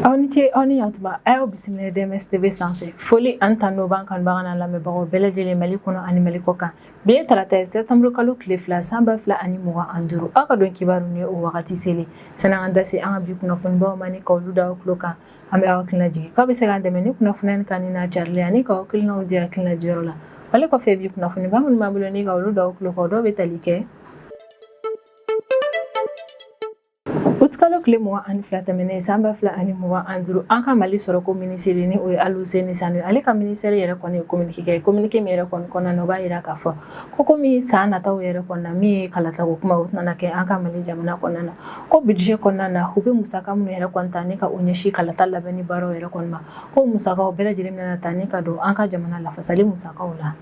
Aw ni ce aw ni yantuma a y'aw bisimila DMS TV sanfɛ foli ani tanu b'an kanubaga n'an lamɛnbagaw bɛɛ lajɛlen Mali kɔnɔ ani Mali kɔ kan bi ye tarata ye sɛtanburu kalo tile fila san ba fila ani mugan ani duuru aw ka don kibaru ni o wagati selen san'an k'an da se an ka bi kunnafonibaw ma ni ka olu da aw tulo kan an bɛ aw hakilina jigin k'aw bɛ se k'an dɛmɛ ni kunnafoni nin kanuni n'a carili ani k'aw hakilinaw di hakilina diyɔrɔ la ale kɔfɛ bi kunnafoniba minnu b'an bolo ni ka olu da aw tulo kan dɔw bɛ tali kɛ utikalo tile mugan ani fila tɛmɛnen san ba fila ani mugan ani duuru an ka Mali sɔrɔko minisiri ni o ye Aluseni Sanu ye ale ka ministère yɛrɛ kɔni ye communiqué kɛ communiqué min yɛrɛ kɔni kɔnɔna na o b'a jira k'a fɔ ko komi san nataw yɛrɛ kɔnɔna min ye kalatako kuma o tɛna kɛ an ka Mali jamana kɔnɔna na ko budget kɔnɔna na u bɛ musaka minnu yɛrɛ kɔni ta ni ka o ɲɛsin kalata labɛnni baaraw yɛrɛ kɔni ma ko musakaw bɛɛ lajɛlen bɛna ta ni ka don an ka jamana lafasali musakaw la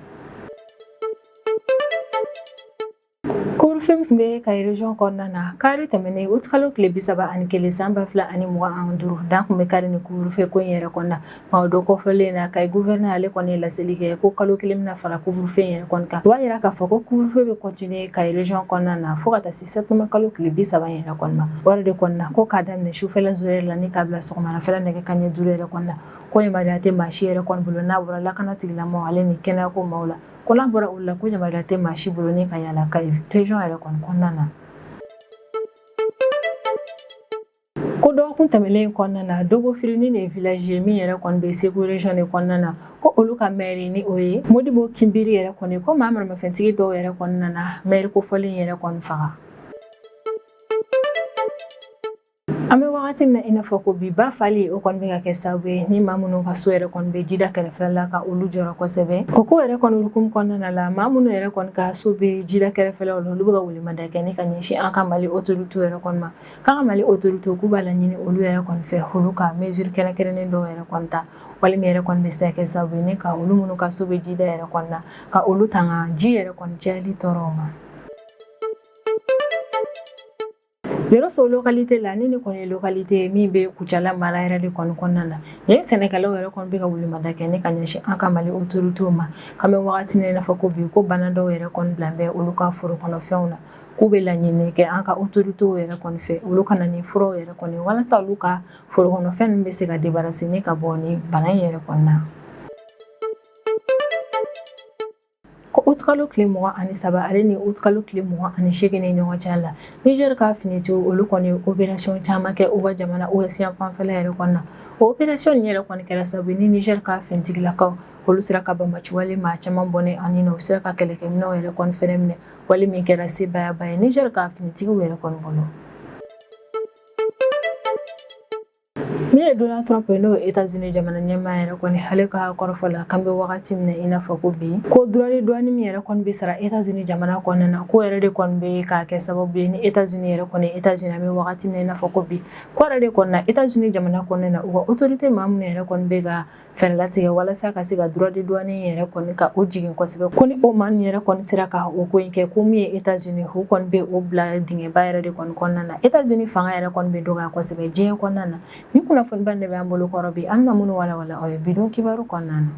Couvre-feu tun bɛ Kayi région kɔnɔna na kari tɛmɛnen utikalo tile bi saba ani kelen san ba fila ani mugan ani duuru dan tun bɛ kari ni couvre-feu ko in yɛrɛ kɔni na O don kofɔlen na Kayi gouverneur ale kɔni ye laseli kɛ ko kalo kelen bɛna fara couvre-feu in yɛrɛ kɔni kan o b'a jira k'a fɔ ko couvre-feu bɛ continuer Kayi région kɔnɔna na fo ka taa se sɛtanburu kalo tile bi saba yɛrɛ kɔni ma o yɛrɛ de kɔni na ko k'a daminɛ sufɛ zéro heure la ni k'a bila sɔgɔmadafɛ nɛgɛ kanɲɛ duuru yɛrɛ kɔni na ko yamaruya tɛ maa si yɛrɛ kɔni bolo n'a bɔra lakana tigila maaw ale ni kɛnɛyako maaw la ko n'a bɔra olu la ko yamaruya tɛ maa si bolo ni ka yaala Kayi région yɛrɛ kɔni kɔnɔna na Ko dɔgɔkun tɛmɛnlen kɔnɔna na Dogofiri nin de ye village ye min yɛrɛ kɔni bɛ Segu région de kɔnɔna na ko olu ka maire ni o ye Modibo Kinbiri yɛrɛ kɔni ko maa maramafɛntigi dɔw yɛrɛ kɔni nana maire kofɔlen yɛrɛ kɔni faga. An bɛ wagati min na i n'a fɔ ko bi ba fali o kɔni bɛ ka kɛ sababu ye ni maa minnu ka so yɛrɛ kɔni bɛ jida kɛrɛfɛ la ka olu jɔrɔ kosɛbɛ o ko yɛrɛ kɔni hukumu kɔnɔna la maa minnu yɛrɛ kɔni ka so bɛ jida kɛrɛfɛlaw la olu bɛ ka welemada kɛ ni ka ɲɛsin an ka Mali autorités yɛrɛ kɔni ma K'an ka Mali autorités k'u b'a laɲini olu yɛrɛ kɔni fɛ olu ka mesures kɛrɛnkɛrɛnnen dɔw yɛrɛ kɔni ta walima min yɛrɛ kɔni bɛ se ka kɛ sababu ye ni ka olu minnu ka so bɛ jida yɛrɛ kɔni na ka olu tanga ji yɛrɛ kɔni cayali tɔɔrɔw ma. Yɔrɔso localité la ni nin kɔni ye localité ye min bɛ Kucala mara yɛrɛ de kɔni kɔnɔna na yen sɛnɛkɛlaw yɛrɛ kɔni bɛ ka welemada kɛ ni ka ɲɛsin an ka Mali autorités ma k'an bɛ wagati min na i n'a fɔ ko bi ko bana dɔw yɛrɛ kɔni bila bɛ olu ka foro kɔnɔfɛnw na. k'u bɛ laɲini kɛ an ka autorités yɛrɛ kɔni fɛ olu ka na ni furaw yɛrɛ kɔni ye walasa olu ka foro kɔnɔfɛn ninnu bɛ se ka débarrasser ni ka bɔ ni bana in yɛrɛ kɔni na ko utkalo tile mugan ani saba ale ni utkalo tile mugan ani seegin ni ɲɔgɔn cɛ la Niger ka finitigiw olu kɔni ye opération caman kɛ u ka jamana ouest yan fanfɛla yɛrɛ kɔni na o opération nin yɛrɛ kɔni kɛra sababu ni Niger ka finitigilakaw olu sera ka banbaanci wale maa caman bɔnɛ u ni na u sera ka kɛlɛkɛminɛw yɛrɛ kɔni fɛnɛ minɛ wale min kɛra sebayaba ye niger ka finitigiw yɛrɛ kɔni bolo min ye donald trump ye n'o ye etazini jamana ɲɛmaa yɛrɛ kɔni ale ka kɔrɔfɔ la k'an bɛ wagati min na i n'a fɔ ko bi ko droit de douane min yɛrɛ kɔni bɛ sara etazini jamana kɔnɔna na ko yɛrɛ de kɔni bɛ ka kɛ sababu ye ni etazini yɛrɛ kɔni etazini an bɛ wagati min na i n'a fɔ ko bi ko yɛrɛ de kɔni na etazini jamana kɔnɔna na u ka otorite maa minnu yɛrɛ kɔni bɛ ka fɛɛrɛ latigɛ walasa ka se ka droit de douane yɛrɛ kɔni ka o jigin kosɛbɛ ko ni o maa ninnu yɛrɛ kɔni sera ka o ko in kɛ ko min ye États-Unis u kɔni bɛ o bila dingɛba yɛrɛ de kɔni kɔnɔna na États-Unis fanga yɛrɛ kɔni bɛ dɔgɔya kosɛbɛ diɲɛ kɔnɔna na ni kunnafoniba de bɛ an bolo kɔrɔ bi an bɛna minnu walawala aw ye bidon kibaru kɔnɔna na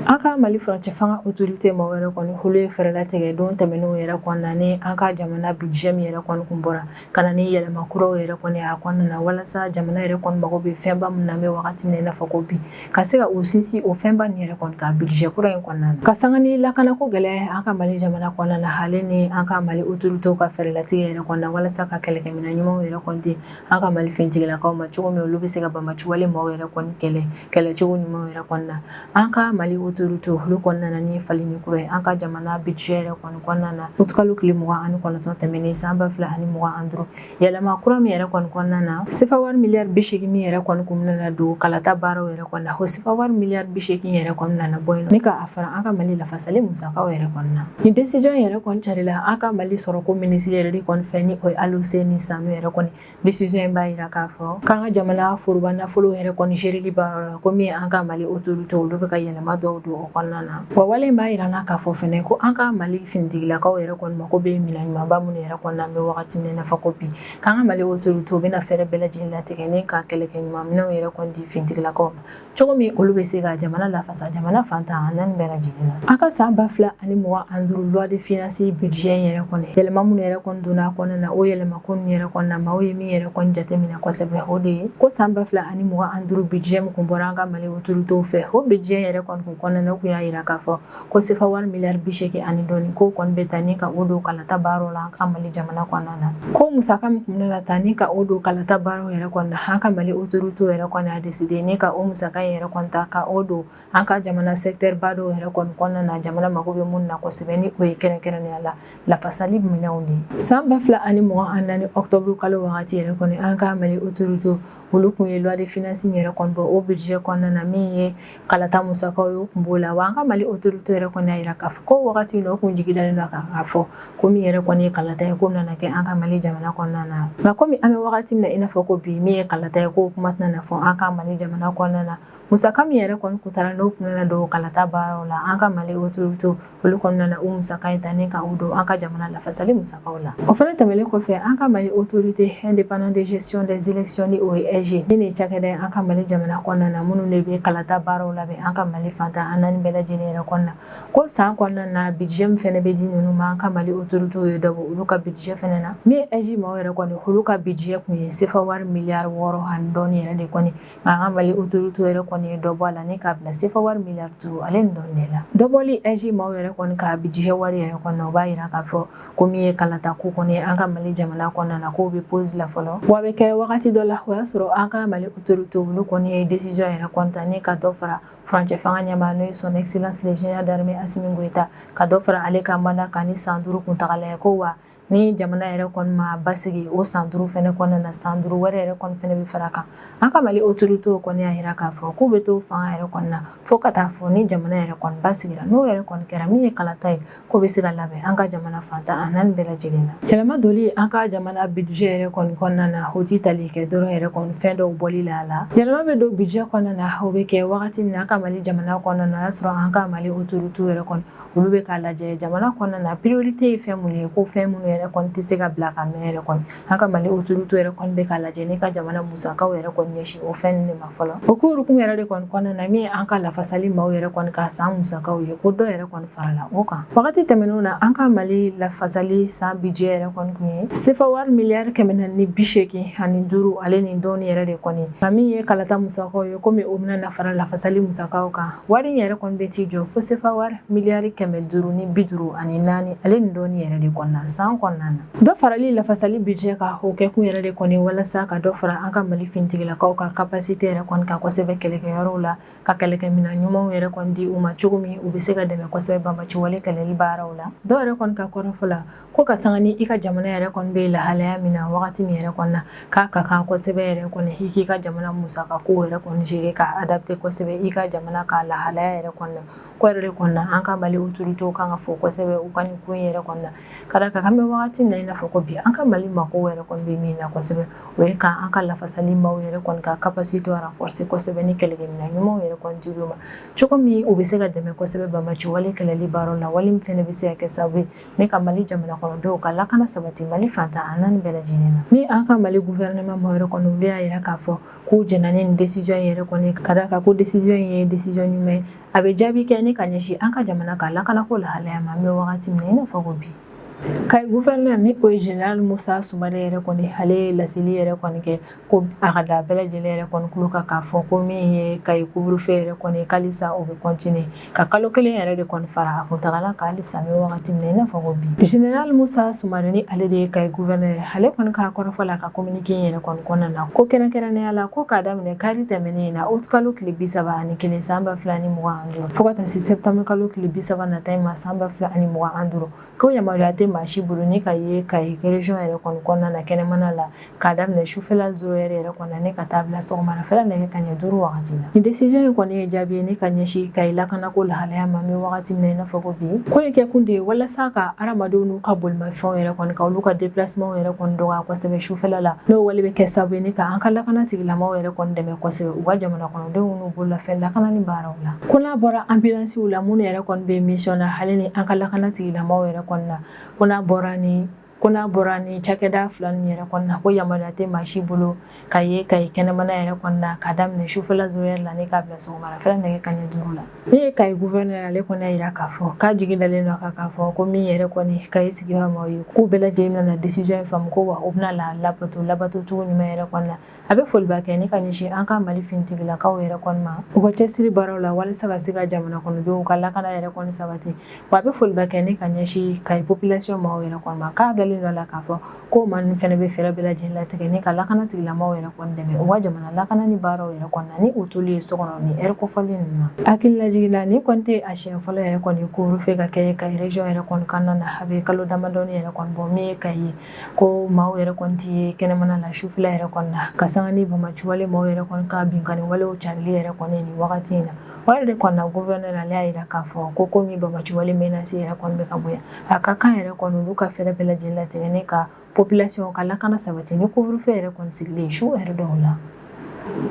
An ka mali furancɛ fanga otorite maaw yɛrɛ kɔni olu ye fɛɛrɛ latigɛ don tɛmɛnenw yɛrɛ kɔnɔna na an ka jamana budget min yɛrɛ kɔni kun bɔra ka na ni yɛlɛma kuraw yɛrɛ kɔni a kɔnɔna na walasa jamana yɛrɛ kɔni mago bɛ fɛnba min na an bɛ wagati min na i n'a fɔ ko bi ka se ka u sinsin o fɛnba nin yɛrɛ kɔni kan budget kura in kɔnɔna na ka san ni lakanako gɛlɛya an ka mali jamana kɔnɔna na hali ni an ka mali otoritew ka fɛɛrɛlatigɛ yɛrɛ kɔnɔna walasa ka kɛlɛkɛminɛn ɲumanw yɛrɛ kɔni di an ka mali finitigilakaw ma cogo min olu bɛ se ka banbaanci wale maaw yɛrɛ kɔni kɛlɛ kɛlɛcogo ɲumanw yɛrɛ kɔnɔna na an ka mali otorite olu kɔni nana ni falenni kura ye an ka jamana budget yɛrɛ kɔni kɔnɔna na utikalo tile mugan ani kɔnɔntɔn tɛmɛnen san ba fila ani mugan ani duuru yɛlɛma kura min yɛrɛ kɔni kɔnɔna na sefa wari miliyari bi seegin min yɛrɛ kɔni kun bɛna don kalata baaraw yɛrɛ kɔnɔna o sefa wari miliyari bi seegin yɛrɛ kɔni nana bɔ yen ni k'a fara an ka mali lafasali musakaw yɛrɛ kɔnɔna na nin desizɔn yɛrɛ kɔni carila an ka mali sɔrɔko minisiri yɛrɛ de kɔni fɛ ni o ye aluseni sanu yɛrɛ kɔni desizɔn in b'a jira k'a fɔ k'an ka jamana foroba nafolo yɛrɛ kɔni gérili baaraw la ko min an ka mali otorite olu bɛ ka yɛlɛma dɔw don o kɔnɔna na wa wale in b'a jira an na k'a fɔ fana ko an ka mali finitigilakaw yɛrɛ kɔni mako bɛ minɛn ɲumanba minnu yɛrɛ kɔni na an bɛ wagati min na i n'a fɔ ko bi K'an ka mali otorite u bɛna fɛɛrɛ bɛɛ lajɛlen latigɛ ni ka kɛlɛkɛ ɲuman minɛnw yɛrɛ kɔni di finitigilakaw ma cogo min olu bɛ se ka jamana lafasa jamana fan tan ani naani bɛɛ lajɛlen na an ka san ba fila ani mugan ani duuru loi de finances budget yɛrɛ kɔni yɛlɛma minnu yɛrɛ kɔni donna a kɔnɔna na o yɛlɛmako ninnu yɛrɛ kɔnɔna maaw ye min yɛrɛ kɔni jateminɛ kosɛbɛ o de ye ko san ba fila ani mugan ani duuru budget min kun bɔra an ka mali otoritew fɛ o budget yɛrɛ kɔni kɔnɔna kun y'a jira k'a fɔ Ko sefa wari miliyari bi seegin ani dɔɔnin k'o kɔni bɛ ta ni ka o don kalata baara la an ka mali jamana kɔnɔna na ko musaka min kun bɛna ta ni ka o don kalata baara yɛrɛ kɔnɔna na an ka mali otoritew yɛrɛ kɔni a deside ni ka o musaka in yɛrɛ kɔni ta ka o don an ka jamana secteurba dɔw yɛrɛ kɔni kɔnɔna na jamana mago bɛ minnu na kosɛbɛ ni o ye kɛrɛnkɛrɛnnenya la lafasali minɛnw de san ba fila ani mugan ani naani ɔkutɔburu kalo wagati yɛrɛ kɔni an ka mali otorite olu kun ye loi de finance min yɛrɛ kɔni bɔ o budget kɔnɔna na min ye kalata musakaw ye o kun b'o la wa an ka Mali autorité yɛrɛ kɔni y'a jira k'a fɔ ko wagati min na u kun jigi dalen don a kan k'a fɔ ko min yɛrɛ kɔni ye kalata ye k'o nana kɛ an ka Mali jamana kɔnɔna na nka komi an bɛ wagati min na i n'a fɔ ko bi min ye kalata ye k'o kuma tɛna na fɔ an ka Mali jamana kɔnɔna na musaka min yɛrɛ kɔni kun tara n'o kun nana don kalata baaraw la an ka Mali autorité olu kɔni nana o musaka in ta ni ka o don an ka jamana lafasali musakaw la o fana tɛmɛlen kɔfɛ an ka mali autorité indépendante de gestion des élections ni o ye AIGE nin ye cakɛda ye an ka mali jamana kɔnɔna na minnu de bɛ kalata baaraw labɛn an ka mali fan tan ani naani bɛɛ lajɛlen yɛrɛ kɔnɔna ko san kɔnɔna na budget min fɛnɛ bɛ di ninnu ma an ka mali autoritéw ye dɔ bɔ olu ka budget fɛnɛ na min ye AIGE maaw yɛrɛ kɔni olu ka budget kun ye sefa wari miliyari wɔɔrɔ ani dɔɔni yɛrɛ de kɔni An ka Mali autorités yɛrɛ kɔni ye dɔ bɔ a la ni k'a bila CFA wari miliyari duuru ale ni dɔɔnin de la, dɔ bɔli AIGE maaw yɛrɛ kɔni ka budget wari yɛrɛ kɔni na o b'a jira k'a fɔ ko min ye kalata ko kɔni ye an ka Mali jamana kɔnɔna na k'o bɛ pause la fɔlɔ wa a bɛ kɛ wagati dɔ la o y'a sɔrɔ an ka Mali autorités olu kɔni ye décision yɛrɛ kɔni ta ni ka dɔ fara furancɛ fanga ɲɛmaa n'o ye son excellence le général d'armée Asimi Goyita ka dɔ fara ale ka mandat kan ni san duuru kuntagala ye ko wa ni jamana yɛrɛ kɔni ma basigi o san duuru fana kɔnɔna na san duuru wɛrɛ yɛrɛ kɔni fana bɛ fara kan an ka mali autoritéw kɔni y'a jira k'a fɔ k'u bɛ to fanga yɛrɛ kɔni na fo ka taa fɔ ni jamana yɛrɛ kɔni basigira n'o yɛrɛ kɔni kɛra min ye kalata ye k'o bɛ se ka labɛn an ka jamana fan tan ani naani bɛɛ lajɛlen na yɛlɛma donli an ka jamana budget yɛrɛ kɔni kɔnɔna na o tɛ tali kɛ dɔrɔn yɛrɛ kɔni fɛn dɔw bɔli la a la yɛlɛma bɛ don budget kɔnɔna na o bɛ kɛ wagati min na an ka mali jamana kɔnɔna na o y'a sɔrɔ an ka mali autoritéw yɛrɛ kɔni olu bɛ k'a lajɛ jamana kɔnɔna na priorité ye fɛn minnu ye ko fɛn minnu yɛrɛ kɔni tɛ se ka bila ka mɛɛn yɛrɛ kɔni an ka Mali autorités yɛrɛ kɔni bɛ k'a lajɛ ni ka jamana musakaw yɛrɛ kɔni ɲɛsin o fɛn ninnu de ma fɔlɔ o ko hukumu yɛrɛ de kɔni kɔnɔna na min ye an ka lafasali maaw yɛrɛ kɔni ka san musakaw ye ko dɔ yɛrɛ kɔni farala o kan wagati tɛmɛnenw na an ka Mali lafasali san budget yɛrɛ kɔni kun ye sefa wari miliyari kɛmɛ naani ni bi seegin ani duuru ale ni dɔɔni yɛrɛ de kɔni nka min ye kalata musakaw ye komi o bɛna na fara lafasali musakaw kan Wari in yɛrɛ kɔni bɛ t'i jɔ fo sefa wari miliyari kɛmɛ duuru ni bi duuru ani naani ale ni dɔɔni yɛrɛ de kɔni na san kɔnɔna na dɔ farali lafasali budget kan o kɛ kun yɛrɛ de kɔni walasa ka dɔ fara an ka mali finitigilakaw ka capacité yɛrɛ kɔni kan kosɛbɛ kɛlɛkɛyɔrɔw la ka kɛlɛkɛminɛn ɲumanw yɛrɛ kɔni di u ma cogo min u bɛ se ka dɛmɛ kosɛbɛ banbaciwale kɛlɛli baaraw la dɔw yɛrɛ kɔni ka kɔrɔfɔ la ko ka sanga ni i ka jamana yɛrɛ kɔni bɛ lahalaya min na wagati min yɛrɛ kɔni na k'a ka kan kosɛbɛ yɛrɛ kɔni i k'i ka jamana musaka ko yɛrɛ kɔni gérer ka adapter kosɛbɛ i ka jamana ka lahalaya yɛrɛ kɔni na k'o yɛrɛ de kɔni na an ka mali autoritéw kan ka fo kosɛbɛ u ka nin ko in yɛrɛ kɔni na ka d'a kan an bɛ wagati min na i n'a fɔ ko bi an ka mali mako yɛrɛ kɔni bɛ min na kosɛbɛ o ye ka an ka lafasali maaw yɛrɛ kɔni ka capacité renforcer kosɛbɛ ni kɛlɛkɛminɛn ɲumanw yɛrɛ kɔni di u ma cogo min u bɛ se ka dɛmɛ kosɛbɛ banbaciwale kɛlɛli baaraw la wale min fana bɛ se ka kɛ sababu ye ne ka mali jamana kɔnɔdenw ka lakana sabati mali fan tan ani naani bɛɛ lajɛlen na ni an ka mali gouvernement maaw yɛrɛ kɔni olu y'a yira k'a fɔ k'u jɛnna ni décision yɛrɛ kɔni ka d'a kan ko décision in ye décision ɲuman ye a bɛ jaabi kɛ ne ka ɲɛsin an ka jamana ka lakanako lahalaya ma an bɛ wagati min na i n'a fɔ ko bi Kayi gouverneur ni o ye Général Musa Sumare yɛrɛ kɔni ale ye laseli yɛrɛ kɔni kɛ ko a ka da bɛɛ lajɛlen yɛrɛ kɔni tulo kan k'a fɔ ko min ye Kayi couvre-feu yɛrɛ kɔni ye ko halisa o bɛ continuer ka kalo kelen yɛrɛ de kɔni fara a kuntagala kan halisa an bɛ wagati min na i n'a fɔ ko bi Général Musa Sumare ni ale de ye Kayi gouverneur ye ale kɔni ka kɔrɔfɔ la ka communiqué in yɛrɛ kɔni kɔnɔna na ko kɛrɛnkɛrɛnnenya la ko k'a daminɛ kari tɛmɛnen in na août kalo tile bi saba ani kelen san ba fila ni mugan ani duuru fo ka taa se septembre kalo tile bi saba nata in ma san ba fila ani mugan ani duuru Ko yamaruya tɛ maa si bolo ne ka ye Kayi région yɛrɛ kɔni kɔnɔna na kɛnɛmana la k'a daminɛ sufɛla zéro heure yɛrɛ kɔni na ne ka taa bila sɔgɔmadafɛla nɛgɛ kanɲɛ duuru wagati la nin décision in kɔni ye jaabi ye ne ka ɲɛsin Kayi lakanako lahalaya ma an bɛ wagati min na i n'a fɔ ko bi ko in kɛ kun de ye walasa ka hadamadenw n'u ka bolimafɛnw yɛrɛ kɔni ka olu ka déplacement yɛrɛ kɔni dɔgɔya kosɛbɛ sufɛla n'o wale bɛ kɛ sababu ye ne ka an ka lakana tigilamaaw yɛrɛ kɔni dɛmɛ kosɛbɛ u ka jamana kɔnɔdenw n'u bololafɛn lakanani baara Ko n'a bɔra anbilansiw la minnu yɛrɛ kɔni bɛ mission na hali ni an ka lakana tigilamaaw yɛrɛ kɔni na ko n'a bɔra ni ko n'a bɔra ni cakɛda fila ninnu yɛrɛ kɔni na ko yamaruya tɛ maa si bolo ka ye Kayi kɛnɛmana yɛrɛ kɔni na k'a daminɛ sufɛla zéro heure la ne k'a bila sɔgɔmadafɛla nɛgɛ kanɲɛ duuru la min ye Kayi gouverneur ale kɔni y'a jira k'a fɔ k'a jigi dalen don a kan k'a fɔ ko min yɛrɛ kɔni Kayi sigibaa maaw ye k'u bɛɛ lajɛlen bɛna décision in faamu ko wa u bɛna a labato labato cogo ɲuman yɛrɛ kɔni na A bɛ foliba kɛ ne ka ɲɛsin an ka mali finitigilakaw yɛrɛ kɔni ma u ka cɛsiri baaraw la walasa ka se ka jamana kɔnɔdenw ka lakana yɛrɛ kɔni sabati wa a bɛ foli kɛ ne ka ɲɛsin Kayi population maaw yɛrɛ kɔni ma k'a dalen don a la k'a fɔ ko maa ninnu fana bɛ fɛɛrɛ bɛɛ lajɛlen latigɛ ne ka lakana tigilamaaw yɛrɛ kɔni dɛmɛ u ka jamana lakanani baaraw yɛrɛ kɔni na ni u toli ye so kɔnɔ nin heure kofɔlen ninnu na hakililajigin na nin kɔni tɛ a siɲɛ fɔlɔ yɛrɛ kɔni couvre-feu ka kɛ Kayi région yɛrɛ kɔnɔna na a bɛ kalo damadɔ yɛrɛ kɔni bɔ min ye Kayi ye ko maaw yɛrɛ kɔni tɛ ye kɛnɛmana na sufɛla yɛrɛ kɔni na ka sanga ni bamaciwale maaw yɛrɛ kɔni ka binkanni walew carili yɛrɛ kɔni nin wagati in na o yɛrɛ de kɔni na gouverneur ale y'a jira k'a fɔ ko komi bamaciwale menace yɛrɛ kɔni bɛ ka bonya a ka kan yɛrɛ kɔni olu ka fɛɛrɛ bɛɛ lajɛlen latigɛ ne ka population ka lakana sabati ni couvre-feu yɛrɛ kɔni sigilen su heure dɔw la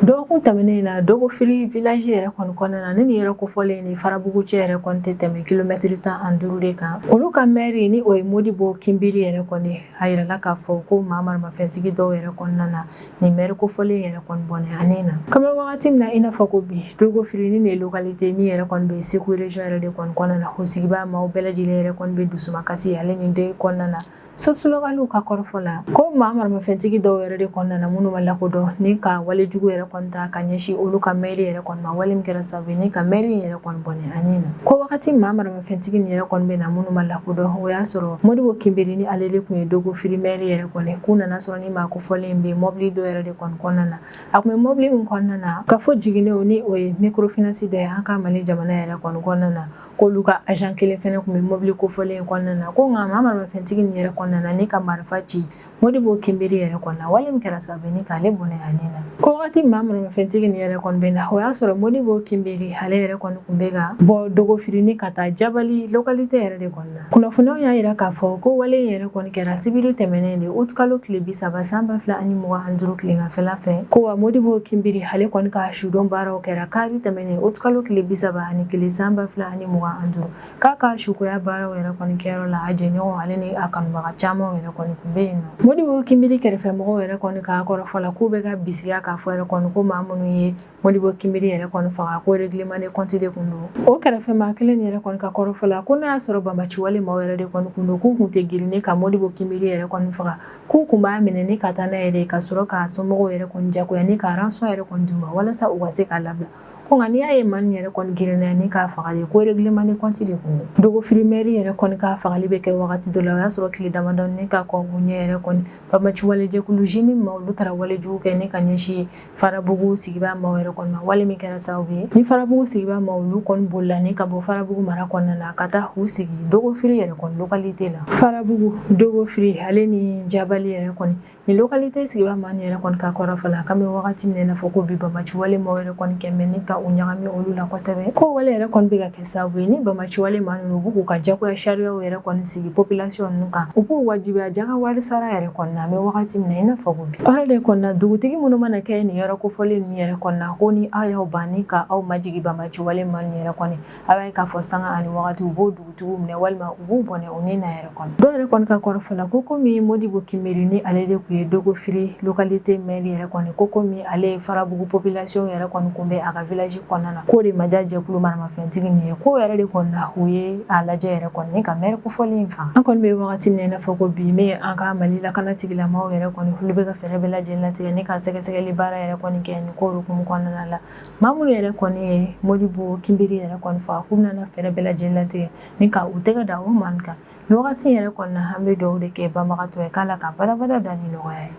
dɔgɔkun tɛmɛnen in na dogofiri village yɛrɛ kɔni kɔnɔna na ne nin yɔrɔ kofɔlen ni farabugu cɛ yɛrɛ kɔni tɛ tɛmɛ kilomɛtiri tan ani duuru de kan olu ka mɛri ni o ye modibo kinbiri yɛrɛ kɔni a yirala k'a fɔ ko maa maramafɛntigi dɔw yɛrɛ kɔni nana nin mɛri kofɔlen yɛrɛ kɔni bɔnɛ a ni na k'an bɛ wagati min na i n'a fɔ ko bi dogofiri ni ne localité min yɛrɛ kɔni bɛ Segu region yɛrɛ de kɔni kɔnɔna na o sigibaa maaw bɛɛ lajɛlen yɛrɛ kɔni bɛ dusumakasi ale ni dɔyi kɔnɔna na Source locale ka kɔrɔfɔ la ko maa maramafɛntigi dɔw yɛrɛ de kɔni nana minnu ma lakodɔn ni ka wale jugu yɛrɛ kɔni ta ka ɲɛsin olu ka maire yɛrɛ kɔni ma wale min kɛra sababu ye ni ka maire in yɛrɛ kɔni bɔnɛ a ni na ko wagati maa maramafɛntigi nin yɛrɛ kɔni bɛ na minnu ma lakodɔn o y'a sɔrɔ Modibo Kinbiri ni ale de tun ye Dogofiri maire yɛrɛ kɔni k'u nana sɔrɔ ni maa kofɔlen in bɛ mɔbili dɔ yɛrɛ de kɔni kɔnɔna na a tun bɛ mɔbili min kɔnɔna na Kafo Jiginɛw ni o ye microfinance dɔ ye an ka Mali jamana yɛrɛ kɔni kɔnɔna na k'olu ka agent kelen fɛnɛ tun bɛ mobili kofɔlen in kɔnɔna na ko nka maa maramafɛntigi nin yɛrɛ kɔni nana ni ka marifa ci Modibo Kinbiri yɛrɛ kɔni na wale min kɛra sababu ye ni k'ale bɔnɛ a ni na ko wagati maa maramafɛntigi nin yɛrɛ kɔni bɛ na o y'a sɔrɔ Modibo Kinbiri ale yɛrɛ kɔni tun bɛ ka bɔ Dogofiri ni ka taa Jabali localité yɛrɛ de kɔnɔna na kunnafoniw y'a jira k'a fɔ ko wale yɛrɛ kɔni kɛra sibiri tɛmɛnen de août kalo tile bi saba san ba fila ani mugan ni duuru tileganfɛla fɛ ko wa Modibo Kinbiri ale kɔni ka sudon baaraw kɛra kari tɛmɛnen août kalo tile bi saba ani kelen san ba fila ani mugan ni duuru k'a ka sukoya baaraw yɛrɛ kɔni kɛyɔrɔ la a jɛɲɔgɔn ale ni a kanubaga caman yɛrɛ kɔni kun bɛ yen nɔ Modibo Kinbiri kɛrɛfɛmɔgɔw yɛrɛ kɔni ka kɔrɔfɔ la k'u bɛ ka bisigiya k'a fɔ yɛrɛ kɔni ko maa minnu ye Modibo Kinbiri yɛrɛ kɔni faga ko règlement de compte de tun don o kɛrɛfɛmaa kelen yɛrɛ kɔni ka kɔrɔfɔ la ko n'a y'a sɔrɔ bamaciwale maaw yɛrɛ de kɔni tun don k'u tun tɛ girin ni ka Modibo Kinbiri yɛrɛ kɔni faga k'u tun b'a minɛ ni ka taa n'a yɛrɛ ka sɔrɔ k'a somɔgɔw yɛrɛ kɔni diyagoya ni ka rançon yɛrɛ kɔni d'u ma walasa u ka se k'a labila ko nka n'i y'a ye maa nin yɛrɛ kɔni girinna ni k'a faga ye ko règlement de compte de tun don Dogofiri maire yɛrɛ kɔni ka fagali bɛ kɛ wagati dɔ la o y'a sɔrɔ tile damadɔ ni ka kɔn o ɲɛ yɛrɛ kɔni bamaciwale jɛkulu JNIM maaw olu taara walejugu kɛ ni ka ɲɛsin Farabugu sigibaa maaw yɛrɛ kɔni ma wale min kɛra sababu ye ni Farabugu sigibaa maaw olu kɔni bolila ni ka bɔ Farabugu mara kɔnɔna na ka taa u sigi Dogofiri yɛrɛ kɔni localité la Farabugu Dogofiri ale ni Jabali yɛrɛ kɔni nin localité sigibaa maa nin yɛrɛ kɔni ka kɔrɔfɔ la k'an bɛ wagati min na i n'a fɔ ko bi bamaciwale maaw yɛrɛ kɔni kɛmɛ ni ka u ɲagami olu la kosɛbɛ ko wale yɛrɛ kɔni bɛ ka sabu ye ni bamaciwale maa ninnu u bɛ k'u ka jagoya sariyaw yɛrɛ kɔni sigi population ninnu kan u b'u wajibiya jaka wari sara yɛrɛ kɔni na an bɛ wagati min na i n'a fɔ ko bi o de kɔni na dugutigi minnu mana kɛ nin yɔrɔ kofɔlen ninnu yɛrɛ kɔni na ko ni aw y'aw ban ni ka aw majigi bamaciwale maa ninnu yɛrɛ kɔni a b'a ye k'a fɔ sanga ani wagati u b'o dugutigiw minɛ walima u b'u bɔnɛ u ni na yɛrɛ dɔw yɛrɛ kɔni ka kɔrɔfɔ la ko komi Modibo Kinbiri ni ale de tun ye Dogofiri localité maire yɛrɛ kɔni ko komi ale ye Farabugu population yɛrɛ kɔni kunbɛn a ka village kɔnɔna na k'o de ma ja jɛkulu maramafɛntigi nin ye k'o yɛrɛ de kɔni na u ye a lajɛ yɛrɛ kɔni ka maire kofɔlen in faga an kɔni bɛ wagati min na i n'a fɔ ko bi an ka Mali lakana tigilamaaw yɛrɛ kɔni olu bɛ ka fɛɛrɛ bɛɛ lajɛ latigɛ ni ka sɛgɛsɛgɛli baara yɛrɛ kɔni kɛ nin ko hukumu kɔnɔna na maa minnu yɛrɛ kɔni ye Modibo Kinbiri yɛrɛ kɔni faga k'u bɛna fɛɛrɛ bɛɛ lajɛ latigɛ ni ka u tɛgɛ da o maa nin kan nin wagati yɛrɛ kɔni na an bɛ dugawu de kɛ banbagatɔ ye k'Ala ka badabada da ni nɔgɔya ye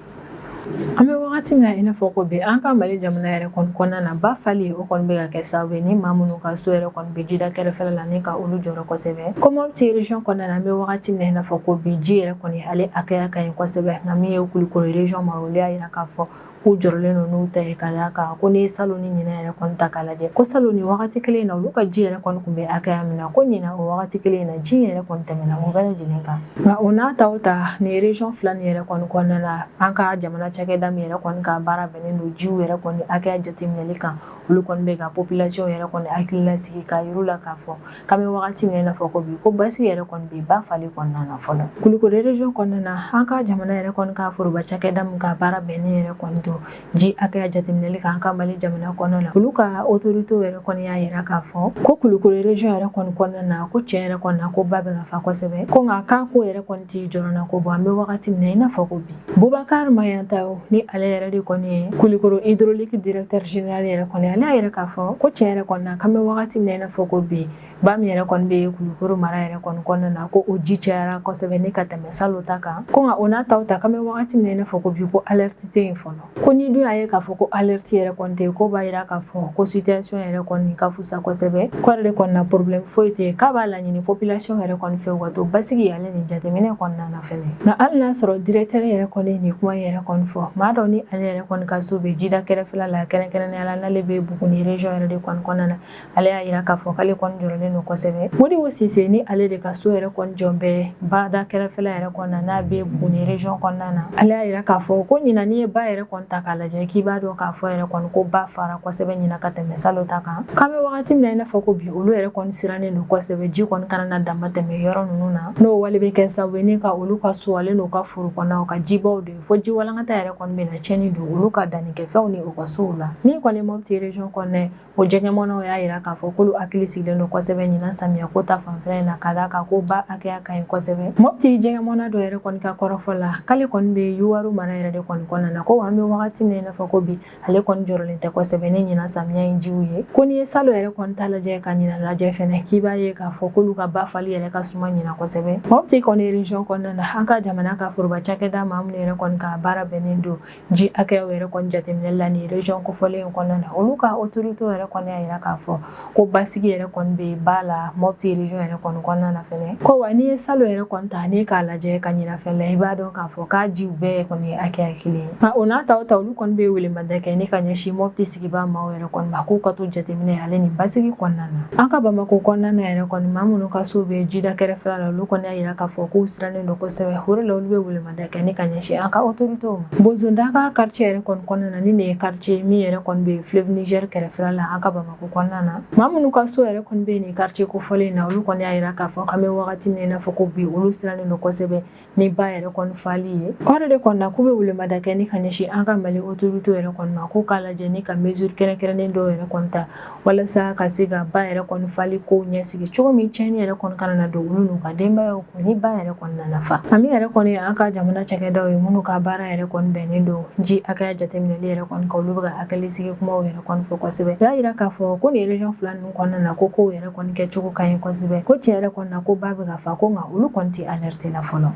an bɛ wagati min na i n'a fɔ ko bi an ka mali jamana yɛrɛ kɔni kɔnɔna na ba fali o kɔni bɛ ka kɛ sababu ye ni maa minnu ka so yɛrɛ kɔni bɛ jida kɛrɛfɛla la ni ka olu jɔrɔ kosɛbɛ ko Mopti region kɔnɔna na an bɛ wagati min na i n'a fɔ ko bi ji yɛrɛ kɔni ale hakɛya ka ɲi kosɛbɛ nka min ye Kulukoro region ma olu y'a jira k'a fɔ k'u jɔrɔlen don n'u ta ye ka d'a kan ko n'i ye salon ni ɲina yɛrɛ kɔni ta k'a lajɛ ko salon nin wagati kelen in na olu ka ji yɛrɛ kɔni tun bɛ hakɛya min na ko ɲina o wagati kelen in na ji yɛrɛ kɔni tɛmɛna o bɛɛ lajɛlen kan nka o n'a ta o ta nin region fila nin yɛrɛ kɔni kɔnɔna na an ka jamana cakɛda min yɛrɛ kɔni ka baara bɛnnen don jiw yɛrɛ kɔni hakɛya jateminɛli kan olu kɔni bɛ ka population yɛrɛ kɔni hakili lasigi k'a yir'u la k'a fɔ k'an bɛ wagati min na i n'a fɔ ko bi ko basigi yɛrɛ kɔni bɛ ba fali kɔnɔna na fɔlɔ Kulukoro region kɔnɔna na an ka jamana yɛrɛ kɔni ka foroba cakɛda min ka baara bɛnnen yɛrɛ kɔni don ji hakɛya jateminɛli kan an ka Mali jamana kɔnɔna na olu ka autorité yɛrɛ kɔni y'a yira k'a fɔ ko Kulukoro region yɛrɛ kɔni kɔnɔna na ko tiɲɛ yɛrɛ kɔni na ko ba bɛ ka fa kosɛbɛ ko nka k'a ko yɛrɛ kɔni tɛ jɔrɔna ko bɔ an bɛ wagati min na i n'a fɔ ko bi Bubakari Mayantao ni ale yɛrɛ de kɔni ye Kulukoro hydraulique directeur général yɛrɛ kɔni ale y'a yira k'a fɔ ko tiɲɛ yɛrɛ kɔni na k'an bɛ wagati min na i n'a fɔ ko bi ba min yɛrɛ kɔni bɛ yen Kulukoro mara yɛrɛ kɔni kɔnɔna na ko o ji cayara kosɛbɛ ni ka tɛmɛ salon ta kan ko nka o n'a ta o ta k'an bɛ wagati min na i n'a fɔ ko bi ko alerte tɛ yen fɔlɔ ko ni dun y'a ye k'a fɔ ko alerte yɛrɛ kɔni tɛ yen k'o b'a jira k'a fɔ ko situation yɛrɛ kɔni ka fusa kosɛbɛ ko ale de kɔni na problème foyi tɛ yen k'a b'a laɲini population yɛrɛ kɔni fɛ u ka to basigi ale nin jateminɛ kɔnɔna na Nka hali n'a sɔrɔ directeur yɛrɛ kɔni ye nin kuma yɛrɛ kɔni fɔ maa dɔ ni ale yɛrɛ kɔni ka so bɛ jida kɛrɛfɛla la kɛrɛnkɛrɛnnenya la n'ale bɛ Buguni region yɛrɛ de kɔni kɔnɔna na ale y'a jira k'a fɔ k'ale kɔni jɔrɔlen don kosɛbɛ Modibo Sise ni ale de ka so yɛrɛ kɔni jɔlen bɛ bada kɛrɛfɛla yɛrɛ kɔni na n'a bɛ Buguni region kɔnɔna na ale y'a jira k'a fɔ ko ɲina n'i ye ba yɛrɛ kɔni ta k'a lajɛ k'i b'a dɔn k'a fɔ yɛrɛ kɔni ko ba fara kosɛbɛ ɲina ka tɛmɛ salon ta kan k'an bɛ wagati min na i n'a fɔ ko bi olu yɛrɛ kɔni sirannen don kosɛbɛ ji kɔni kana na damatɛmɛ yɔrɔ ninnu na N'o wale bɛ kɛ sababu ye ni ka olu ka so ale n'u ka foro kɔnɔnaw ka jibaw de fo ji walankata yɛrɛ kɔni bɛna tiɲɛni don olu ka dannikɛfɛnw ni u ka sow la min kɔni Mopti region kɔnɔna na o jɛgɛmɔnaw y'a jira k'a fɔ k'olu hakili sigilen don kosɛbɛ ɲina samiya ko ta fanfɛ in na ka d'a kan ko ba hakɛya ka ɲi kosɛbɛ Mopti jɛgɛmɔna dɔ yɛrɛ kɔni ka kɔrɔfɔ la k'ale kɔni bɛ Yuwaru mara yɛrɛ de kɔni kɔnɔna na ko an bɛ wagati min na i n'a fɔ ko bi ale kɔni jɔrɔlen tɛ kosɛbɛ ni ɲina samiya in jiw ye ko n'i ye salon yɛrɛ kɔni ta lajɛ ka ɲina lajɛ fɛnɛ k'i b'a ye k'a fɔ k'olu ka ba fali yɛrɛ ka suma ɲina kosɛbɛ Mopti kɔni region kɔnɔna na an ka jamana ka foroba cakɛda maa minnu yɛrɛ kɔni ka baara bɛnnen don ji hakɛyaw yɛrɛ kɔni jateminɛli la nin region kofɔlen in kɔnɔna na olu ka autorité yɛrɛ kɔni y'a yira k'a fɔ ko basigi yɛrɛ kɔni bɛ ba la mɔti région yɛrɛ kɔni kɔnɔna na fɛnɛ ko wa n'i ye salon yɛrɛ kɔni ta ni k'a lajɛ ka ɲinan fɛn la i b'a dɔn k'a fɔ k'a jiw bɛɛ kɔni ye hakɛya kelen ye nka o n'a ta o ta olu kɔni bɛ welemada kɛ ni ka ɲɛsin mɔti sigibaa maaw yɛrɛ kɔni ma k'u ka to jateminɛ ale ni basigi kɔnɔna na an ka bamakɔ kɔnɔna na yɛrɛ kɔni maa minnu ka so bɛ jida kɛrɛfɛ la olu kɔni y'a jira k'a fɔ k'u sirannen don kosɛbɛ o de la olu bɛ welemada kɛ ni ka ɲɛsin an ka autoritéw ma bozodaga quartier yɛrɛ kɔni kɔnɔna na ni nin ye quartier min yɛrɛ kɔni bɛ fleuve Niger kɛrɛfɛ la an ka bamakɔ O kɔnɔna na maa minnu ka so yɛrɛ kɔni bɛ nin quartier kofɔlen in na olu kɔni y'a jira k'a fɔ k'an bɛ wagati min na i n'a fɔ ko bi olu sirannen don kosɛbɛ ni ba yɛrɛ kɔni fali ye o de kɔni na k'u bɛ welemada kɛ ni ka ɲɛsin an ka Mali autorité yɛrɛ kɔni ma k'u k'a lajɛ ni ka mesure kɛrɛnkɛrɛnnen dɔw yɛrɛ kɔni ta walasa ka se ka ba yɛrɛ kɔni fali kow ɲɛsigi cogo min tiɲɛni yɛrɛ kɔni kana na don olu n'u ka denbayaw Ni ba yɛrɛ kɔni nana fa min yɛrɛ kɔni ye an ka jamana cakɛdaw ye minnu ka baara yɛrɛ kɔni bɛnnen don ji hakɛya jateminɛni yɛrɛ kɔni kan olu bɛ ka hakilisigi kumaw yɛrɛ kɔni fɔ kosɛbɛ y'a jira k'a fɔ ko nin région fila ninnu kɔnɔna na ko kow yɛrɛ kɔni kɛcogo ka ɲi kosɛbɛ ko tiɲɛ yɛrɛ kɔni na ko ba bɛ ka fa ko nka olu kɔni tɛ alerte la fɔlɔ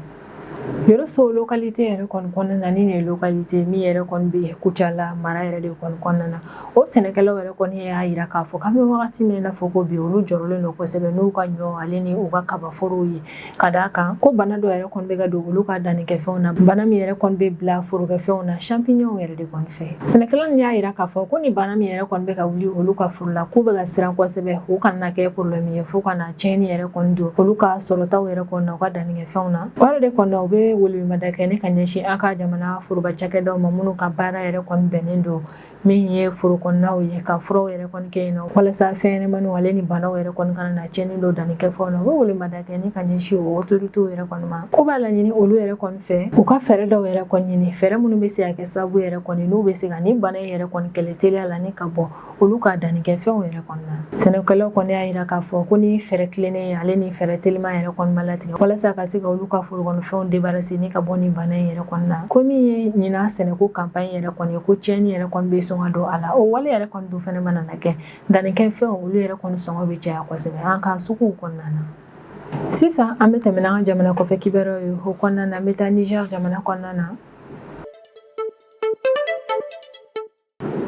yɔrɔso localité yɛrɛ kɔni kɔnɔna na ni nin ye localité min yɛrɛ kɔni bɛ kucala mara yɛrɛ de kɔni kɔnɔna na o sɛnɛkɛlaw yɛrɛ kɔni y'a jira k'a fɔ k'an bɛ wagati min na i n'a fɔ ko bi olu jɔrɔlen don kosɛbɛ n'u ka ɲɔ ale ni u ka kabaforow ye ka d'a kan ko bana dɔ yɛrɛ kɔni bɛ ka don olu ka dannikɛfɛnw na bana min yɛrɛ kɔni bɛ bila forokɛfɛnw na champignon yɛrɛ de kɔni fɛ sɛnɛkɛlaw y'a jira k'a fɔ ko ni bana min yɛrɛ kɔni bɛ ka wuli olu ka foro la k'u bɛ ka siran kosɛbɛ u kana kɛ problème ye fo ka na tiɲɛni yɛrɛ kɔni don olu ka sɔrɔtaw yɛrɛ kɔni na u ka dannikɛfɛnw na o yɛrɛ de kɔni na u bɛ welemada kɛ ni ka ɲɛsin an ka jamana foroba cakɛdaw ma minnu ka baara yɛrɛ kɔni bɛnnen don min ye foro kɔnɔnaw ye ka furaw yɛrɛ kɔni kɛ yen nɔ walasa fɛnɲɛnɛmaninw ale ni banaw yɛrɛ kɔni kana na tiɲɛni don dannikɛfɛnw na u bɛ welemada kɛ ni ka ɲɛsin o autoritéw yɛrɛ kɔni ma k'u b'a laɲini olu yɛrɛ kɔni fɛ u ka fɛɛrɛ dɔw yɛrɛ kɔni ɲini fɛɛrɛ minnu bɛ se ka kɛ sababu yɛrɛ kɔni n'u bɛ se ka nin bana in yɛrɛ kɔni kɛlɛ teliya la ni ka bɔ olu ka dannikɛfɛnw yɛrɛ sɛnɛkɛlaw kɔni y'a jira k'a fɔ ko ni fɛɛrɛ tilennen ale ni fɛɛrɛ teliman yɛrɛ kɔni ma latigɛ walasa ka se ka olu ka forokɔnɔfɛnw débarrasser ni ka bɔ ni bana in yɛrɛ kɔni na ko min ye ɲinan sɛnɛko campagne yɛrɛ kɔni ye ko tiɲɛni yɛrɛ kɔni bɛ sɔn ka don a la o wale yɛrɛ kɔni dun fana mana na kɛ dannikɛfɛnw olu yɛrɛ kɔni sɔngɔ bɛ caya kosɛbɛ an ka suguw kɔnɔna na sisan an bɛ tɛmɛ n'an ka jamana kɔfɛ kibaruyaw ye o kɔnɔna na an bɛ taa nizɛri jamana kɔnɔna na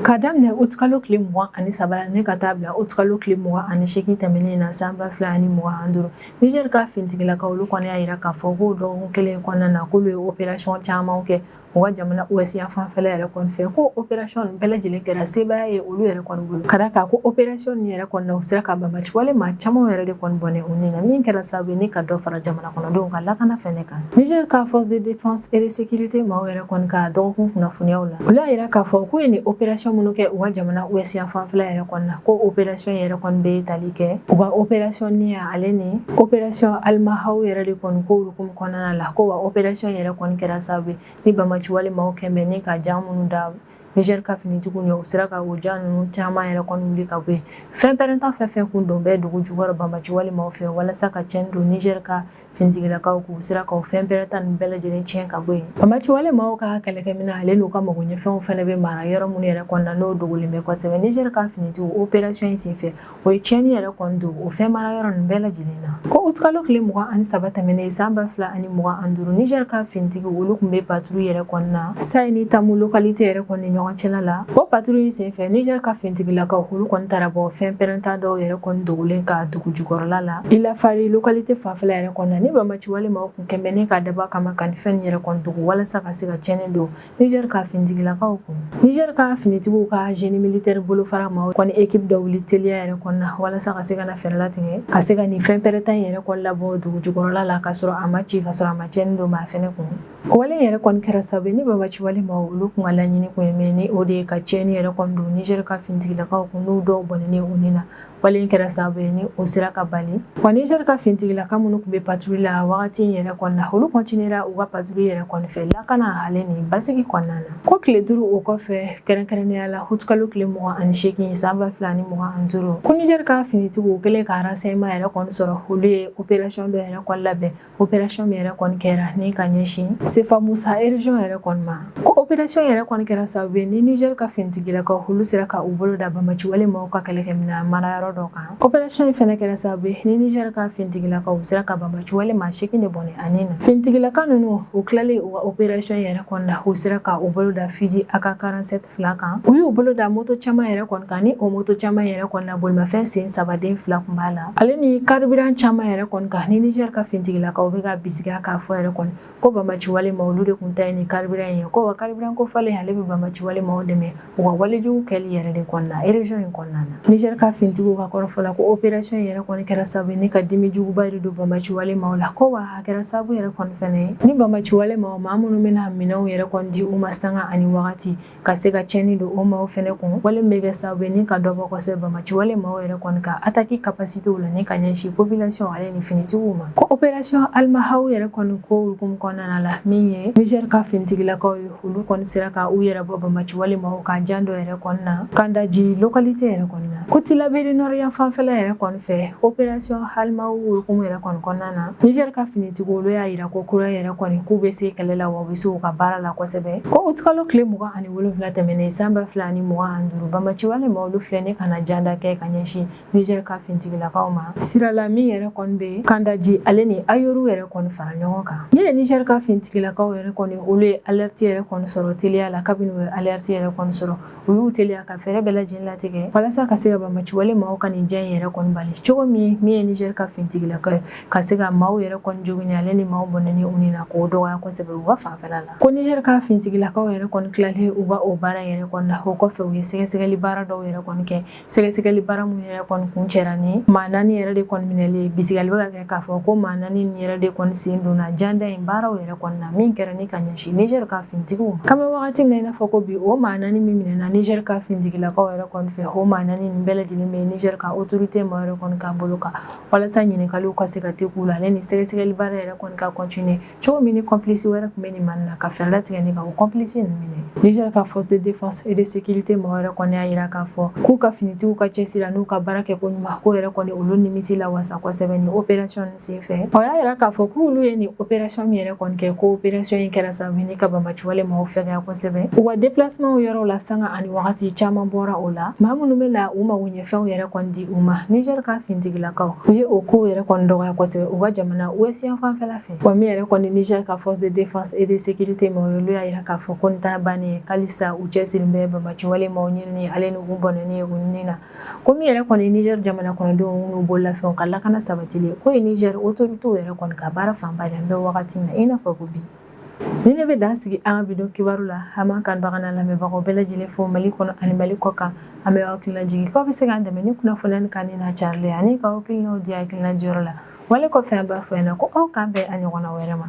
K'a daminɛ utikalo tile mugan ani saba la ne ka taa bila utikalo tile mugan ani segin tɛmɛnen na san ba fila ani mugan ani duuru nizɛri ka finitigilakaw olu kɔni y'a jira k'a fɔ ko dɔgɔ kelen kɔnɔna na k'olu ye opération caman kɛ u ka jamana ouest yan fanfɛla yɛrɛ kɔni fɛ ko opération nin bɛɛ lajɛlen kɛra sebaya ye olu yɛrɛ kɔni bolo ka d'a kan ko opération nin yɛrɛ kɔni na u sera ka banbaanci wale maa caman yɛrɛ de kɔni bɔnɛ u ni na min kɛra sababu ye ni ka dɔ fara jamana a kɔnɔdenw ka lakana fɛnɛ kan Niger ka force de défense et de sécurité maaw yɛrɛ kɔni ka dɔgɔkun kunnafoniyaw la olu y'a yira k'a fɔ k'u ye nin opération minnu kɛ u ka jamana ouest yan fanfɛla yɛrɛ kɔni na ko opération yɛrɛ kɔni bɛ tali kɛ u ka opération Niya ale ni opération Almahaou yɛrɛ de kɔni ko hukumu kɔnɔna la ko wa opération yɛrɛ kɔni kɛra sababu ye ni banbaanciwale maaw kɛlen bɛ ni ka jan minnu da Niger ka finitigiw ɲɛ u sera ka o jan ninnu caman yɛrɛ kɔni wuli ka bɔ yen, fɛn pɛrɛnta fɛn o fɛn kun don bɛ dugu jukɔrɔ banbaanciwale maaw fɛ walasa ka cɛnni don Niger ka finitigilakaw kun, u sera ka o fɛn pɛrɛnta ninnu bɛɛ lajɛlen tiɲɛ ka bɔ yen. Banbaanciwale maaw ka kɛlɛkɛminɛn ale n'u ka magoɲɛfɛnw fɛnɛ bɛ mara yɔrɔ minnu yɛrɛ kɔnɔna na n'o dogolen bɛ kosɛbɛ. Niger ka finitigiw operation in senfɛ, O ye tiɲɛni yɛrɛ kɔni don o fɛn mara yɔrɔ ninnu bɛɛ lajɛlen na ko utikalo tile mugan ani saba tɛmɛnen san ba fila ani mugan ani duuru nijɛri ka fintigiw olu kun bɛ paturu yɛrɛ kɔnɔna na Sayi ni Tamu lokalite yɛrɛ kɔni ɲɔgɔn cɛla la o paturu in senfɛ nijɛri ka fintigilakaw olu kɔni taara bɔ fɛn pɛrɛnta dɔw yɛrɛ kɔni dogolen kan dugu jukɔrɔla la Ilafari lokalite fanfɛla yɛrɛ kɔnɔna ni banbaanciwale maaw kun kɛlen bɛ ni ka dabɔ a kama ka nin fɛnw yɛrɛ kɔni dogo walasa ka se ka ciɲɛni don Niger ka finitigilakaw kun Niger ka finitigiw ka génie militaire bolofara maaw kɔni équipe dɔ wuli teliya yɛrɛ kɔnɔna walasa ka se ka na fɛɛrɛ latigɛ ka se ka nin fɛn pɛrɛnta in yɛrɛ kɔni labɔ dugu jukɔrɔla la ka sɔrɔ a ma ci ka sɔrɔ a ma cɛni don maa fɛnɛ kun o wale yɛrɛ kɔni kɛra sababu ye ni banbaanciwale maaw olu kun ka laɲini kun ye min ni o de ye ka cɛni yɛrɛ kɔni don Niger ka finitigilakaw kun n'u dɔw bɔnɛni u ni na Wale in kɛra sababu ye ni o sera ka bali wa Niger ka fintigilaka minnu kun bɛ patrouille la wagati in yɛrɛ kɔni na olu continuera u ka patrouille yɛrɛ kɔni fɛ lakana ale ni basigi kɔnɔna na ko tile duuru o kɔfɛ kɛrɛnkɛrɛnnenya la utikalo tile mugan ani seegin san ba fila ni mugan ani duuru ko Niger ka finitigiw kɛlen ka renseignement yɛrɛ kɔni sɔrɔ olu ye operation dɔ yɛrɛ kɔni labɛn operasɔn min yɛrɛ kɔni kɛra ni ka ɲɛsin Sefa Musa erezɔn yɛrɛ kɔni ma ko operasɔn yɛrɛ kɔni kɛra sababu ye ni nizɛri ka finitigilakaw olu sera ka u bolo da banbaanciwale maaw ka kɛlɛkɛmina marayɔrɔ dɔ kan operasɔn in fɛnɛ kɛra sababu ye ni nizɛri ka finitigilakaw u sera ka banbaanciwale maa seegin de bɔnɛ a ni na finitigilaka nunu u tilalen u ka operasɔn yɛrɛ kɔni na u sera ka u bolo da fizi AK 47 fila kan u y'u bolo da moto caman yɛrɛ kɔni kan ni o moto caman yɛrɛ kɔni na bolimafɛn sen saba den fila kun b'a la ale ni karibiran caman yɛrɛ kɔni kan ni nizɛri ka fintigilakaw bɛ ka bisigiya k'a fɔ yɛrɛ kɔni ko banbaanciwale maaw olu de kun ta ye nin karibiran ye ko wa karibiran ko falen ale bɛ banbaanciwale maaw dɛmɛ u ka walejugu kɛli yɛrɛ de kɔni na erezɔn in kɔnɔna na nizɛri ka fintigiw ka kɔrɔfɔ la ko operasɔn yɛrɛ kɔni kɛra sababu ye ni ka dimi juguba de don banbaanciwale maaw la ko wa a kɛra sababu yɛrɛ kɔni fɛnɛ ye ni banbaanciwale maaw maa minnu bɛna minɛnw yɛrɛ kɔni di u ma sanga ani wagati ka se ka cɛni don o maaw fɛnɛ kun wale min bɛ kɛ sababu ye ni ka dɔ bɔ kosɛbɛ banbaanciwale maaw yɛrɛ kɔni ka ataki kapasitew la ni ka ɲɛsin population ale ni finitigiw ma ko operation Almahaou yɛrɛ kɔni ko hukumu kɔnɔna la min ye nizɛri ka finitigilakaw ye Olu kɔni sera ka u yɛrɛ bɔ banbaciwale maaw ka jan dɔ yɛrɛ kɔni na Kandaji lokalite yɛrɛ kɔni na ko Tilaberi nɔrɔ yan fanfɛla yɛrɛ kɔni fɛ opération Almahaw hukumu yɛrɛ kɔni kɔnɔna na Niger ka finitigiw olu y'a jira ko kura yɛrɛ kɔni k'u bɛ se kɛlɛ la wa u bɛ se u ka baara la kosɛbɛ ko uti kalo tile mugan ani wolonwula tɛmɛnen san ba fila ani mugan ani duuru banbaciwale maaw olu filɛ nin ka na janda kɛ ka ɲɛsin Niger ka finitigilakaw ma sirala min yɛrɛ kɔni bɛ Kandaji ale ni Ayoru yɛrɛ kɔni fara ɲɔgɔn kan min ye Niger ka finitigilakaw yɛrɛ kɔni olu ye alerte yɛrɛ kɔni sɔrɔ teliya la kabini u ye alerte yɛrɛ kɔni sɔrɔ u y'u teliya ka fɛɛrɛ bɛɛ lajɛlen latigɛ walasa ka se ka banbagaciwale maaw ka nin jan in yɛrɛ kɔni bali cogo min min ye Niger ka finitigilakaw ye ka se ka maaw yɛrɛ kɔni jogini ale ni maaw bɔnɛni u ni na k'o dɔgɔya kosɛbɛ u ka fanfɛla la ko Niger ka finitigilakaw yɛrɛ kɔni tilalen u ka o baara in yɛrɛ kɔni na o kɔfɛ u ye sɛgɛsɛgɛli baara dɔw yɛrɛ kɔni kɛ sɛgɛsɛgɛli baara mun yɛrɛ kɔni kuncɛra ni maa naani yɛrɛ de kɔni minɛli ye bisigili bɛ ka kɛ k'a fɔ ko maa naani nin yɛrɛ de kɔni sen donna janda in baaraw yɛrɛ kɔni na min kɛra ni ka ɲɛsin nizɛri ka finitigiw ma k'an bɛ wagati min na i n'a fɔ ko bi o maa naani min minɛna nizɛri ka finitigilakaw yɛrɛ kɔni fɛ o maa naani nin bɛɛ lajɛlen bɛ nizɛri ka otorite maaw yɛrɛ kɔni ka bolo kan walasa ɲininkaliw ka se ka te k'u la ale ni sɛgɛsɛgɛli baara yɛrɛ kɔni ka kɔntine cogo min ni kɔnpilisi wɛrɛ tun bɛ nin maa nin na ka fɛɛrɛ latigɛ ni ka o kɔnpilisi ninnu minɛ nizɛri ka force de défense et de sécurité mɔgɔ yɛrɛ kɔni y'a jira k'a fɔ k'u ka finitigiw ka cɛsiri n'u ka baara kɛ ko ɲuman ko yɛrɛ kɔni olu nimisi la wasa kosɛbɛ nin opération nin sen fɛ o y'a jira k'a fɔ k'olu ye nin opération min yɛrɛ kɔni kɛ ko opération in kɛra sababu ni ka banbaciwale mɔgɔw fɛgɛya kosɛbɛ u ka déplacement yɔrɔw la sanga ani wagati caman bɔra o la maa minnu bɛ na u magoɲɛfɛnw yɛrɛ kɔni di u ma nizɛri ka finitigilakaw u ye o kow yɛrɛ kɔni dɔgɔya kosɛbɛ u ka jamana ouest yan fanfɛla Wa min yɛrɛ kɔni Niger ka force de défense et de sécurité maaw olu y'a jira k'a fɔ ko nin t'a ban ye halisa u cɛsirilen bɛ banbaciwale maaw ɲinini ale ni u bɔnɛni ye u ni na ko min yɛrɛ kɔni Niger jamana kɔnɔdenw n'u bololafɛnw ka lakana sabatili ko ye Niger otorite yɛrɛ kɔni ka baara fanba an bɛ wagati min na i n'a fɔ ko bi nin de bɛ dan sigi an ka bi don kibaru la an b'an kanubagaw n'an lamɛnbagaw bɛɛ lajɛlen fo mali kɔnɔ ani mali kɔ kan an bɛ aw hakili lajigin k'aw bɛ se k'an dɛmɛ ni kunnafoni kanuni n'a carili ale ani ka hakilinaw di hakilina diyɔrɔ la Wale kɔfɛ an b'a fɔ yan ko aw k'an bɛn a ɲɔgɔnna wɛrɛ ma